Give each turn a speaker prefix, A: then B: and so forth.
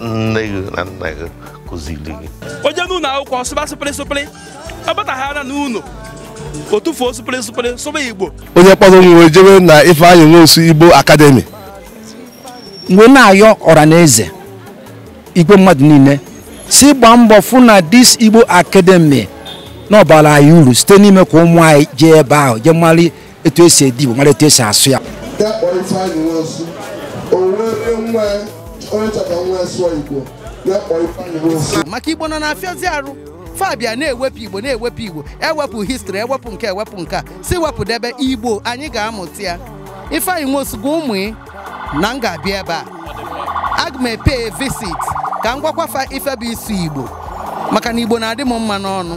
A: nne gị na nna gị kụziri gị onye n'ụlọ akwụkwọ sụba sụpịrị sụpịrị ọ bataghara n'ụlọ o tụfuo sụpịrị sụpịrị sụba igbo onye kpọrọ nwa ya jebe na Ifeanyi Nwosu Igbo Academy m wee na-ayọ ọra na eze igwe mmadụ niile sị gbaa mbọ fụ na dis igbo academy na ọ bara anyị uru site n'ime ka ụmụ anyị jee ebe ahụ jee mara etu esi ede igbo mara etu esi asụ ya ya kpọọ ifeanyị nwosu o were nwa ya onye chọọ ka nwa ya sụọ igbo ya kpọọ ifeanyị nwosu maka igbo nọ na-afịazi arụ fa bịa na-ewepụ igbo na-ewepụ igbo ewepụ histrị ewepụ nke ewepụ nke a sị wepụdebe igbo anyị ga-amụta ya ifeanyị nwosu gwa ụmụ ị na m ga-abịa ebe a aga m e-pay visit ka m gwakwafa ife bụ ịsụ igbo maka na igbo na-adị m mma n'ọnụ